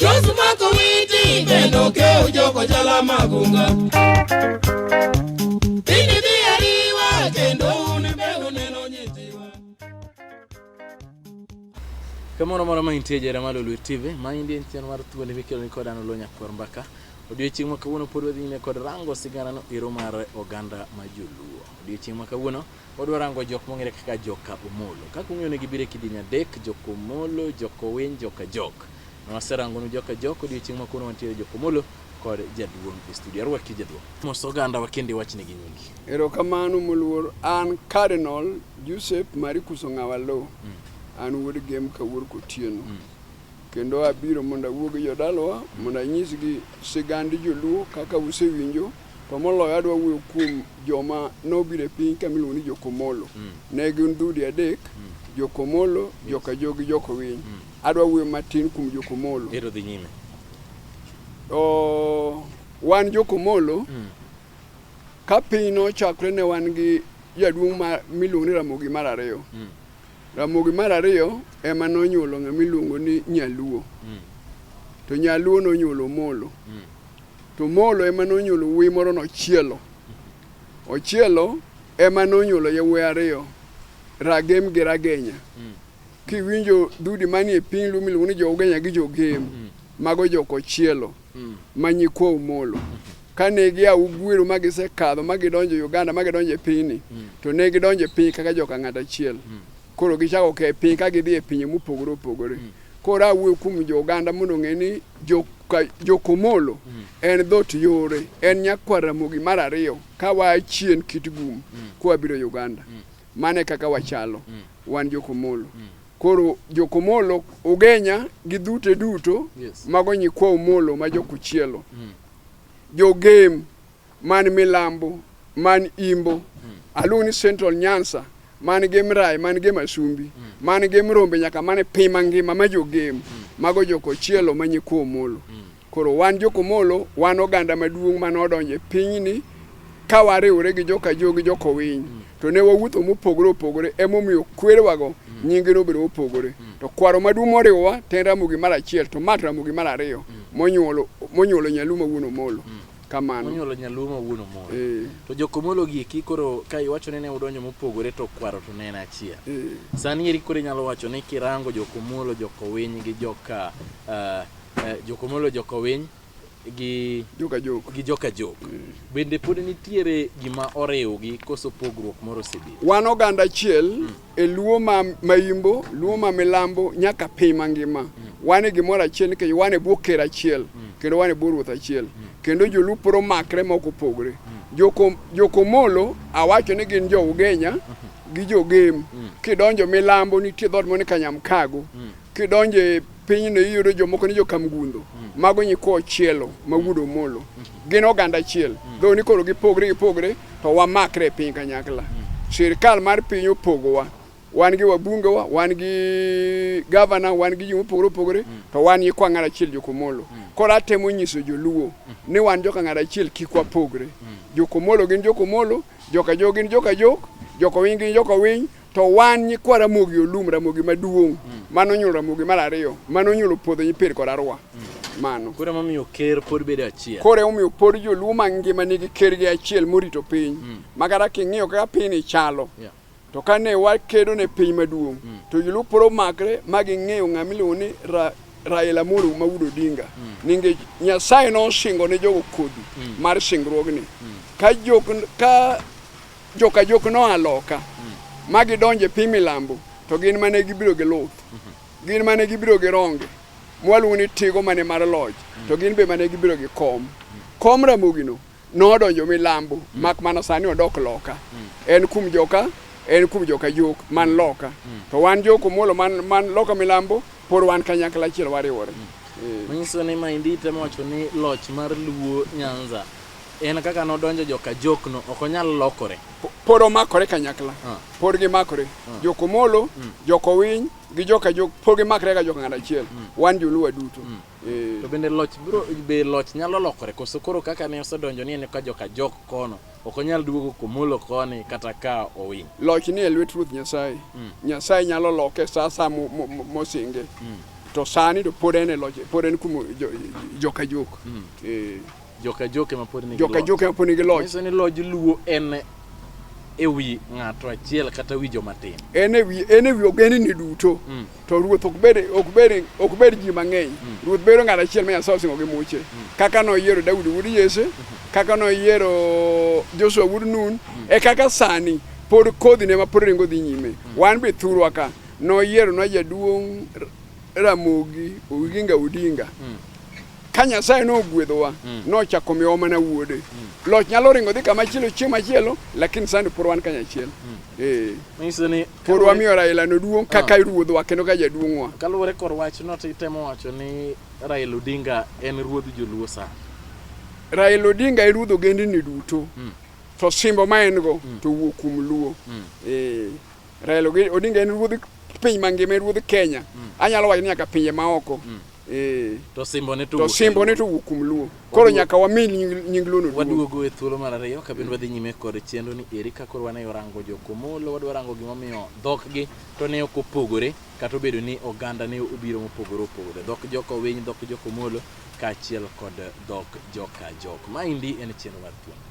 Josmako witi bendo ke ujoko jala magunga Kamoro moro ma intie jera malo Luo TV, ma indie ntian mar thuondi mikelo ni kodano lo nyakwar mbaka. Odiochieng' ma kawuono pod wadhi nyime kod rango sigana no ero mar oganda ma joluo. Odiochieng' ma kawuono Wadwa rango jok mong'ere kaka joka Omolo. Kaka ung'eyo ne gibiro e kidieny adek, joka Omolo, joka Owiny, joka Jok. Ne waserangonu joka Jok, odiochieng' ma kawuono wantiere joka Omolo kod jaduong' e studio. Arwaki jaduong'. Mos oganda wa kendo iwach negi nyingi. Erokamano moluor, an Cardinal Joseph Maricus Ong'awa Lo. Mm. An wuod Gem Kawuor Kotieno. Mm. Kendo abiro mondo awuo gi jodalawa mondo anyisgi sigand joluo kaka usewinjo To moloyo adwa wuoyo kuom joma nobiro e piny ka miluongo ni Jokomolo. Mm. Ne gin dhoudi adek, mm. Jokomolo, yes. Jokajo gi Jokowiny. Mm. Adwa wuoyo matin kuom Jokomolo. Ero dhi nyime. O, wan Jokomolo mm. ka piny nochakre ne wan gi jaduong' ma miluongo ni Ramogi mar ariyo. Mm. Ramogi mar ariyo ema nonyuolo ng'ama iluongo ni Nyaluo. Mm. To Nyaluo nonyuolo Omolo. Mm. To Molo ema nonyuolo wuoyi moro nochielo. Ochielo ema nonyuolo yawuoyi ariyo, Ragem gi Ragenya. Mm. Kiwinjo dudi manie piny Luo miluongo ni Jougenya gi Jogem, mm. mago jokochielo mm. ma nyikwa Omolo. Kane gia Ugwiro ma gisekadho ma gidonjo Uganda ma gidonjo e pinyni, mm. to ne gidonjo e piny kaka joka ng'at achiel. Mm. Koro gichako ke piny ka gidhi e pinje mopogore opogore. Mm. Koro awuoyo kuom jo Uganda mondo ong'e ni Jokomolo mm. en dhot yore, en nyakwar Ramogi mar ariyo ka waa chien kit gum mm. kwa biro Uganda. Mm. Mano e kaka wachalo mm. wan Jokomolo. Mm. Koro Jokomolo, Ugenya gi dhute duto yes. mago nyikwa Omolo ma Jokuchielo. Mm. Jogem man milambo, man imbo, hmm. aluongo ni Central Nyansa, man gi Mrai, man gi Masumbi, hmm. man gi Mrombe nyaka man e piny mangima ma jogem, hmm. mago jokochielo ma nyikwa Omolo. Koro wan jokomolo, wan oganda maduong' mane odonjo e pinyni ka wariwore gi joka jo gi joka winy to ne wawuotho mopogore opogore emomiyo kwerewago nyingi nobedo mopogore to kwaro maduong' moriwowa to en Ramogi mar achiel to Mat Ramogi mar ariyo monyuolo monyuolo Nyaluo ma wuon Omolo kamano onyuolo nyaluo ma wuon omoro eh. to jokomolo giki koro ka iwacho ni ne udonjo mopogore to kwaro to ne en achiel eh. sani eri koro inyalo wacho ni kirango jokomolo jokowiny gi joka uh, uh, jokomolo jokowiny gi joka jok gi joka jok mm. bende pod nitiere gima oriwgi koso pogruok moro osebedo wan oganda achiel mm. e luo ma maimbo luo ma milambo nyaka piny mangima mm. wan e gimoro achiel nikech wan e bwo ker achiel mm. kendo wan e bwo ruoth achiel mm. kendo jolupo romakre ma ok opogre mm. jokomolo joko awacho ni gin jo ugenya mm-hmm. gi jogem mm. kidonjo milambo nitie dhot moni kanyamkago mm. kidonjo e Pinyno iyudo jomoko ni jokamgundo, mm. mago nyikwa ochielo ma mm. wuod omolo. Mm. Gin oganda achiel. Mm. Dho ni koro gipogre gipogre to wamakre e piny kanyakla. Mm. Sirkal mar piny opogowa. Wan gi wabungewa, wan gi gavana, wan gi joma opogore opogore, mm. to wan nyikwa ng'at achiel jokomolo. Mm. Koro atemo nyiso joluo mm. ni wan joka ng'at achiel kik wapogre. Mm. Jokomolo gin jokomolo, joka jo gin joka jok, joka winy gin joka winy, To wan nyikwa Ramogi Olum, Ramogi maduong', mm. mano onyuolo Ramogi mar ariyo, mano onyuolo Puodho Nyipir kod Arwa. Mm. Mano. Koro emomiyo ker pod bedo achiel. Koro emomiyo pod joluo mangima nigi ker gi achiel morito piny. Mm. Ma kata king'iyo kaka piny ni chalo. Yeah. To kane wakedo ne piny maduong', mm. to joluo pod omakre ma ging'eyo ng'ama iluongo ni ra, Raila Amolo Maudo Odinga. Mm. Ninge Nyasaye nosingo ne jogo kodhi mm. mar singruogni. Mm. Ka jok ka Joka jok noa loka ma gidonjo e piny milambo to gin mane gibiro gi luth gin mane gibiro gi ronge mwaluongo ni tigo mane mar loch to gin be mane gibiro gi kom kom ramogino nodonjo milambo mak mana sani odok loka en kum joka en kum joka jok man loka to wan joko muolo man, man loka milambo pod wan kanyakla achiel wariwore Eh. manyiso ni maendi temo wacho ni loch mar luo nyanza En kaka nodonjo joka jokno ok onyal lokore. Po- Pod omakore kanyakla. Ah. Pod gimakore. Jokomolo, jokowiny gi joka jok pod gimakre ka joka ng'at achiel. Wan joluo duto. Eh, To bende loch bro be loch nyalo lokore koso koro kaka ne osedonjo ni en ka joka jok kono ok onyal duogo komolo koni kata ka owiny. Loch ni e lwet Ruoth Nyasaye. Nyasaye nyalo loke sa sa mo- mo- mo- mosinge. To sani to pod en e loch, pod en kuom jo- joka jok. Eh, Joka joke ma pod nigi joka loch. joke ma pod nigi loch Nyiso ni loj luo en e wi ng'ato achiel kata wi joma tin. en e wi en e wi ogendni duto Mm. to ruoth ok bed ok bed ok bed ji mang'eny ruoth bedo ng'at achiel ma Nyasaye osingo gi muche kaka noyiero Daudi wuod Jesse kaka noyiero Joshua wuod Nun e kaka sani pod kodhi ne ma pod ringo dhi nyime wan be thurwa ka noyiero na jaduong' Ramogi Oginga Odinga Ka Nyasaye nogwedhowa, mm. nochako miyowa mana wuode. Mm. Loch nyalo ringo dhi kama chielo chieng' machielo, lakini sani por wan kanyachiel. Mm. Eh. Manyiso ni por wamiyo Raila no duong' kaka ah. ruodhwa kendo ka jaduong'wa. Kaluwore kor wach no titemo wacho ni Raila Odinga en ruodh Joluo sa. Raila Odinga e ruodh ogendni duto. Mm. To simbo ma en go mm. to wuok kuom Luo. Mm. Eh. Raila Odinga en ruodh piny mangima, en ruodh Kenya. Mm. Anyalo wacho ni nyaka pinje maoko. Mm. Eh. To simbone to to simbone to wuok kuom luo koro nyaka wami nying nying luo no duong'. waduogo e thuolo mar ariyo ka bende wadhi nyime kod chenro ni eri ka koro wane orango jokomolo wadwa rango gimomiyo dhokgi to ne ok opogore kata obedo ni oganda ne obiro mopogore opogore dhok jokowiny dhok jokomolo kaachiel kod dhok joka jok maendi en chenro mar thuolo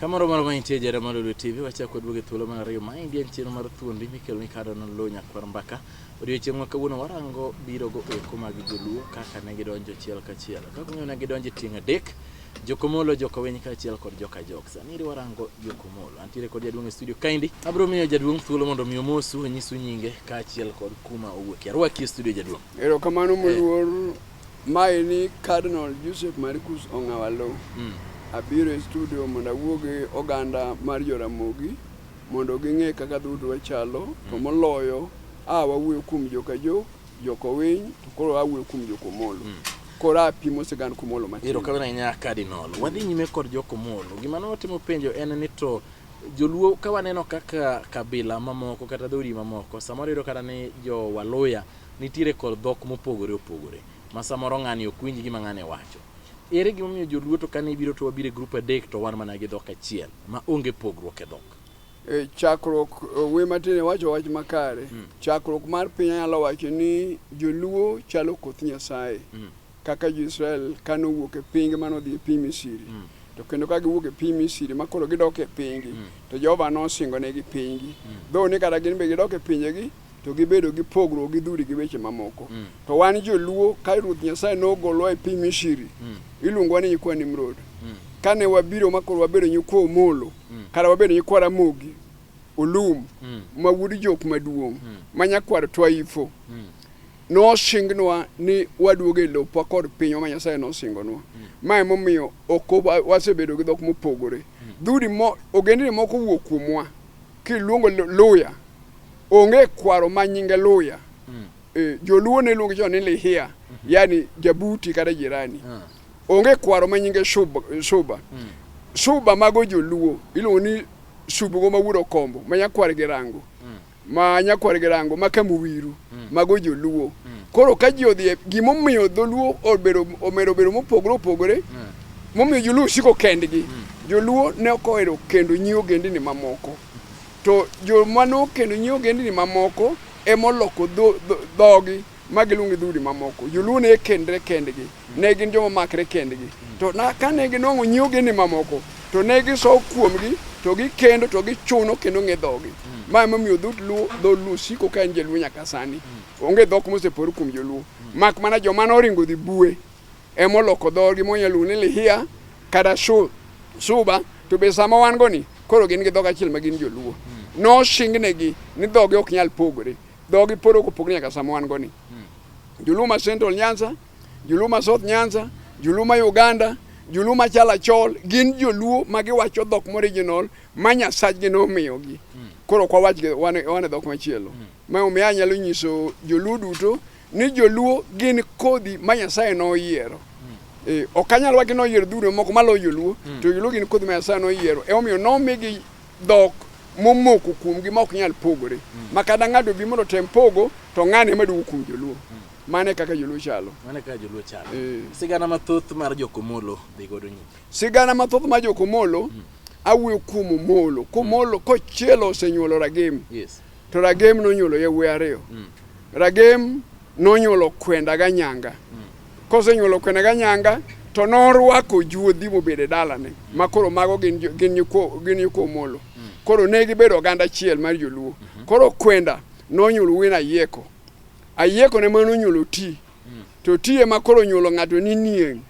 Kamoro mar mantie jara mar Lulu TV wachako kod buge thuolo mar ariyo maendi en chenro mar thuondi mikelo ni kado nolo nyakwar mbaka odiochieng' ma kawuono warango biro go eko mag joluo kaka ne gidonjo achiel kachiel kaka ung'eyo ne gidonjo e tieng' adek jokomolo jokowiny kaachiel kod joka jok sani warango jokomolo antiere kod jaduong' e studio kaendi abiro miyo jaduong' thuolo mondo mi omosu onyisu nyinge kaachiel kod kuma owuokie arwaki e studio jaduong' erokamano moluor eh. Mae ni Cardinal Joseph Maricus Ong'awalo. Mm. Abiro e studio mondo awuo gi oganda mar Joramogi mondo ging'e kaka dhout wachalo mm. to moloyo a wawuoyo kuom joka jo joka Owiny to koro awuoyo kuom joka Omolo. Mm. Koro apimo sigand Komolo matin. Ero kadhana nya Cardinal. Wadhi nyime kod joka Omolo. Gima ne watimo penjo en ni to joluo ka waneno kaka kabila mamoko kata dhoudi mamoko samoro yudo kata ni jo waluya Nitiere kor dhok mopogore opogore ma samoro ng'ani ok winj gima ng'ane wacho. Ere gima omiyo joluo to kane ibiro to wabiro e group adek to wan mana gi dhok achiel ma onge pogruok e dhok? E chakruok wuoyi matin iwacho wach makare. Chakruok mar piny anyalo wacho ni joluo chalo koth Nyasaye. kaka jo-Israel kane owuok e pinygi mane odhi e piny Misiri mm. to kendo ka giwuok e piny Misiri ma koro gidok e pinygi mm. to Jehova nosingonegi pinygi mm. dho ni kata gin be gidok e pinjegi to gibedo gi pogruok gi dhudi gi weche mamoko mm. to wan joluo ka ruoth nyasaye nogolwa e piny Misiri mm. iluongowa ni nyikwa Nimrod mm. kane wabiro ma koro wabedo nyikwa Omolo mm. kata wabedo nyikwa Ramogi Olum mm. ma wuod jok maduong' mm. ma nyakwar Twaifo mm. Nosingnwa ni waduogo e lopwa kod pinywa ma Nyasaye nosingonwa. Ma emomiyo ok wasebedo gi dhok mopogore. Dhoudi mo, ogendni moko wuok kuomwa kiluongo Lu- Luya. Onge kwaro ma nyinge Luya. Eh, Joluo ne luongo chon ni Lihia, yani jabuti kata jirani. Onge kwaro ma nyinge Shuba. Shuba, Shuba mago Joluo iluongo ni Subugo ma wuod Okombo ma nyakwar Girango. ma nyakwar girango ma kamuwiru mm. mago joluo mm. koro ka ji odhi gimomiyo dholuo obedo omedo bedo mopogore opogore mm. momiyo joluo siko kendgi mm. joluo ne ok ohero kendo nyi ogendini mamoko to joma nokendo nyi ogendini mamoko emoloko dhogi dho, dho, ma giluongo gi dhoudi mamoko. Joluo ne kendre kendgi, ne gin joma makre kendgi. To na kane ginwang'o nyi ogendni mamoko, to ne gisowo kuomgi, to gikendo, to gichuno kendo ng'e dhogi. Ma emomiyo dhout Luo, dho Luo siko ka en jaluo nyaka sani. Onge dhok mosepore kuom joluo. Mak mana joma noringo dhi bue, emoloko dhogi monyalo luongo ni Lihia kata Shu- Suba, to be sama wan go ni, koro gin gi dhok achiel ma gin joluo. Nosingnegi ni dhogi ok nyal pogore. Dhogi pod ok opogni nyaka sama wan goni. Hmm. Juluma Central Nyanza, Juluma South Nyanza, Juluma Uganda, Juluma Chalachol gin joluo ma giwacho dhok morijinol ma nyasachgi nomiyogi. Hmm. Koro ok wawach wan e dhok machielo. Hmm. Ma omiyo anyalo nyiso joluo duto ni joluo gin kodhi ma Nyasaye noyiero. Eh, ok anyal wacho ni oyiero duto moko maloyo joluo to joluo gin kodhi ma Nyasaye noyiero. Emomiyo nomigi dhok momoko kuomgi ma ok nyal pogore mm. ma kada ng'ato bi mondo tem pogo to ng'ane ma duogo kuom joluo mm. mane kaka joluo chalo mane kaka joluo chalo eh. sigana mathoth mar jokomolo dhi godo nyime sigana mathoth mar jokomolo mm. awuoyo kuom omolo komolo mm. kochielo osenyuolo ragem yes. to ragem nonyuolo yawuoyi ariyo mm. ragem nonyuolo kwenda ga nyanga mm. Kosenyuolo kwene ga nyanga to norwako juodhi mobedo e dalane ma koro mago gin jo- gin nyikwo gin nyikwo Omolo. Koro ne gibedo oganda achiel mar joluo. Koro kwenda nonyuolo wuoyi ni Ayieko. Ayieko ne mano onyuolo ti. To ti ema koro onyuolo ng'ato ni Nieng'.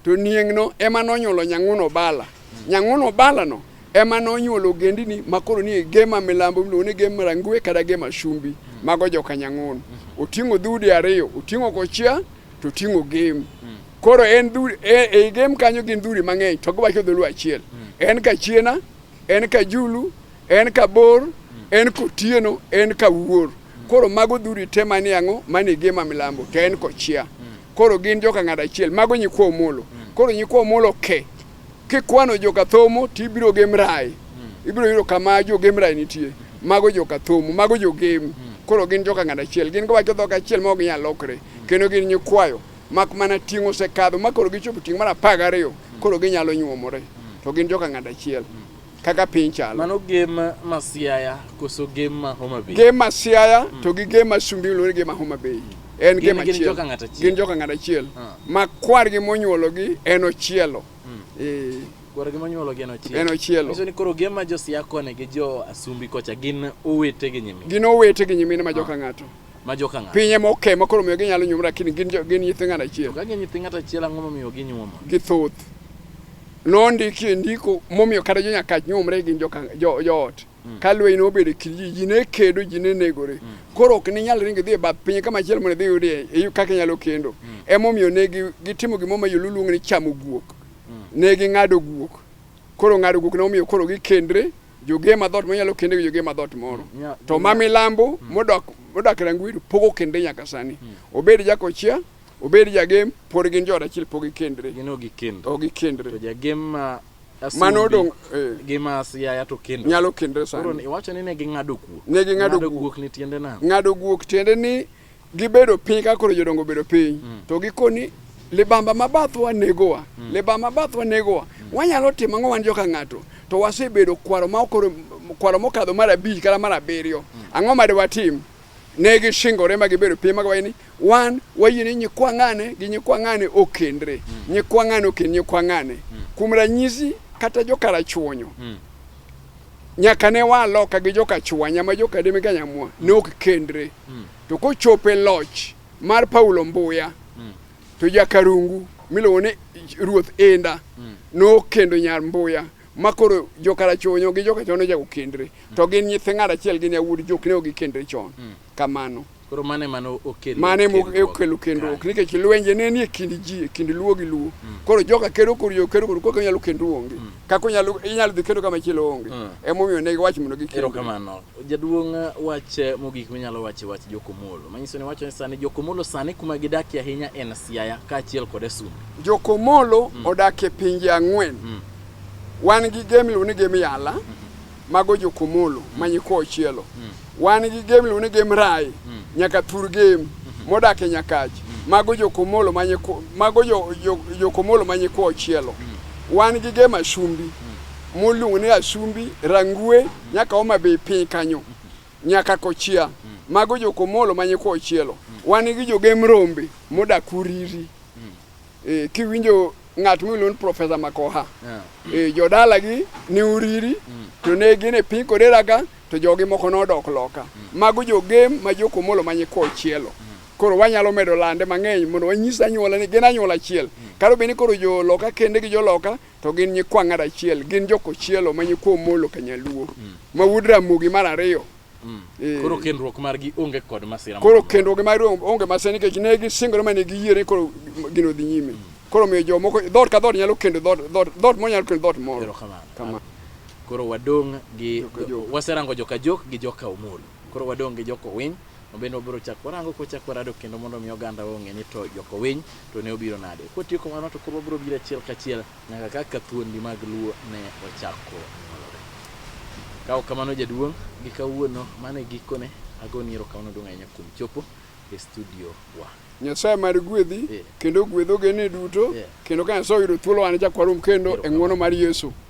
To Nieng'no ema nonyuolo Nyang'uno Bala. Nyang'uno Balano ema nonyuolo ogendini makoro ni Gema milambo miluongo ni Gema Rangwe kata Gema Shumbi mm. mago joka Nyang'ono mm. oting'o dhoudi ariyo oting'o Kochia to oting'o Gem mm. koro en dhoudi e, e Gem kanyo gin dhoudi mang'eny to giwacho dholuo achiel mm. en Kachiena en Kajulu en Kabor mm. en Kotieno en Kawuor mm. koro mago dhoudi te manie ang'o manie Gema milambo to en Kochia mm. koro gin joka ng'ada achiel mago nyikwa Omolo mm. koro nyikwa Omolo ke okay. Kikwano joka thomo to ibiro gem rai. Hmm. Ibiro yudo kama jo gem rai nitie. Mago joka thomo, mago jo gem. Hmm. Koro gin joka ng'at achiel. Gin giwacho dhok achiel ma ok ginyal lokre. Hmm. Kendo gin nyikwayo. Mak mana ting' osekadho ma koro gichopo ting' mar apar gariyo. Koro ginyalo nyuomore. To gin joka ng'at achiel. kaka piny chalo. Mano gem ma Siaya koso gem ma Homa Bay? Gem ma Siaya mm. to gi gem ma Sumbi luwore gem ma Homa Bay. En gem achiel. Gin joka ng'at achiel. Gin joka ng'at achiel. Ah. Ma kwargi monyuologi en ochielo. Mm. Eh. Kwargi monyuologi en ochielo. En ochielo. Miso ni koro gem ma jo Siaya koni gi jo Asumbi kocha gin owete gi nyimine. Gin owete gi nyimine ma ah. joka ng'ato. ma joka ng'ato. Pinye moke ma koro miyo ginyalo nyuomre lakini gin jo- gin nyithi ng'at achiel. Ka gin nyithi ng'ato achiel ang'o momiyo ginyuomo? Githoth. Nondiki e ndiko momiyo kata jo nyakach nyuomre gin joka jo, joot. Ka lweny nobedo e kind ji, ji ne kedo, ji ne negore. Koro ok ninyal ringo idhi e bath pinye kama chielo mondo idhi iyudie e- kaka inyalo kendo. Emomiyo ne gi- gitimo gimoro ma joluo luongo ni chamo guok. Ne ging'ado guok. Koro ng'ado guok ne omiyo koro gikendre Joge ma dhoot monyalo kende gi joge ma dhoot moro. Mm, yeah, to yeah. ma milambo mm. modok modak Rangweru pogo kende nyaka sani. Mm. Obed Jakochia, obed Jagem, pod gin jood achiel pog gikendre. Gin ok gikendre. Ok gikendre. To Jagem ma mano odong eh. gi mas yaya to kendo nyalo kendre sani. Koro iwacho ni ne ging'ado guok. Ne ging'ado guok ni tiende nang'o? Ng'ado guok tiende ni Gibedo piny ka koro jodongo obedo piny mm. to gikoni libamba ma bathwa negowa mm. libamba ma bathwa negowa mm. wanyalo timo ang'o wan joka ng'ato to wasebedo kwaro ma okoro kwaro mokadho mar abich kata mar abiriyo mm. ang'o ma dewatim ne gishingore ma gibedo piny ma giwacho ni wan wayie ni nyikwa ng'ane gi nyikwa ng'ane okendre mm. nyikwa ng'ane okend nyikwa ng'ane mm. kuom ranyisi kata jokarachuonyo mm. nyaka ne waloka gi joka chwanya ma joka deme ganyamwa ne ok kendre mm. to kochopo e loch mar Paulo Mbuya mm. to jakarungu miluongo ni Ruoth Enda mm. nokendo nyar Mbuya ma koro jokarachonyo gi jokachono jago kendre mm. to gin nyithi ng'at achiel gin yawuod jok ne ogikendre chon mm. kamano koro mane mano okelo mane okelo kendruok nikech lwenje ne nie kind ji e kind luo gi luo mm. koro joka kedo koro yo kedo koro kaka nyalo kendru onge mm. kaka nyalo inyalo dhi kedo kama chielo onge mm. emomiyo ne giwacho mondo gikendo erokamano Jaduong' wach mogik minyalo wacho e wach Jokomolo manyiso ni wacho ni sani Jokomolo sani kuma gidakie ahinya en Siaya kaachiel kod Asum. Jokomolo mm. odak e pinje ang'wen mm. wan gi game iluongo ni game Yala mm -hmm. mago Jokomolo mm. manyikwa Ochielo mm. wan gi game iluongo ni game Rai mm. nyaka Thur game mm -hmm. modak e Nyakach mm. mago Jokomolo manyikwa mago jo, jo, Jokomolo manyikwa Ochielo mm. wan gi game Ashumbi mm. moluongo ni Ashumbi Rangue nyaka Homa Bay piny kanyo nyaka Kochia, mago jokomolo ma nyikwa Ochielo. Wan gi jogem rombe modak Uriri. Eh, kiwinjo ng'at miluongo ni Profesa Makoha eh, jodalagi ni Uriri to ne gin e piny Kodera ka to jogi moko nodok loka. Mago jogem ma jokomolo ma nyikwa Ochielo. Koro wanyalo medo lande mang'eny mondo wanyis anyuola ni gin anyuola achiel. Kata obedo ni koro joloka kende gi joloka to gin nyikwa ng'at achiel gin jokochielo ma nyikwa omolo kanyaluo mm. ma wuod ramogi mar ariyo mm. eh. koro kendruok margi onge kod masira koro kendruok margi onge masira nikech ne gisingore mane giyie ni koro gino dhi nyime mm. koro miyo jomoko dhoot ka dhoot nyalo kendo dhoot moro nyalo kendo dhoot moro koro wadong' gi waserango joka jok gi joka omolo Koro wadong' gi Jokowiny, ma bende wabiro chako warango kwachako warado kendo mondo mi oganda ong'e ni to Jokowiny to ne obiro nade. Kwatieko mano to koro wabiro biro achiel kachiel nyaka kaka thuondi mag Luo ne ochako nyuolore. Kawo kamano jaduong' gi kawuono mano e gikone agoni erokamano duong' ahinya kuom chopo e studio wa. Nyasaye mar gwedhi Yeah. kendo ogwedh ogene duto Yeah. kendo ka Nyasaye oyudo thuolo wan chak warum kendo e Erokamano. ng'wono mar Yesu.